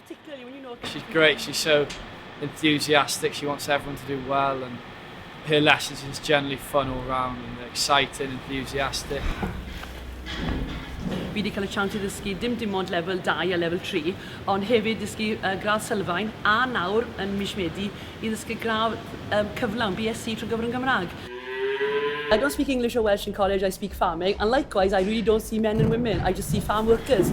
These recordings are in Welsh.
particularly when you know... She's great, she's so enthusiastic, she wants everyone to do well and her lessons are just generally fun all round and they're exciting, enthusiastic. Fi wedi cael y chance i ddysgu dim dim ond lefel 2 a lefel 3, ond hefyd ddysgu uh, gradd sylfaen a nawr yn mis Medi i ddysgu gradd um, cyflawn BSc trwy gyfer yn Gymraeg. I don't speak English or Welsh in college, I speak farming, and likewise I really don't see men and women, I just see farm workers.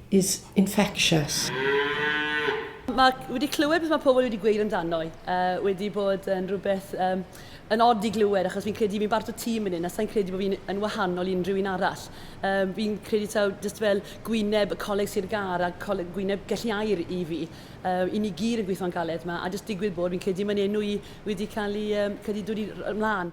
is infectious. Mae wedi clywed beth mae pobl wedi gweud amdano i. Uh, wedi bod yn rhywbeth um, yn od i glywed, achos fi'n credu fi'n barto tîm yn hyn, a sa'n credu bod fi'n yn wahanol i unrhyw un arall. Um, fi'n credu taw just fel gwyneb y coleg Sir Gar a coleg, gwyneb gelliau'r i fi. Um, I ni gyd yn gweithio'n galed yma, a just digwydd bod fi'n credu mae'n enw i wedi cael ei um, credu dod i ymlaen.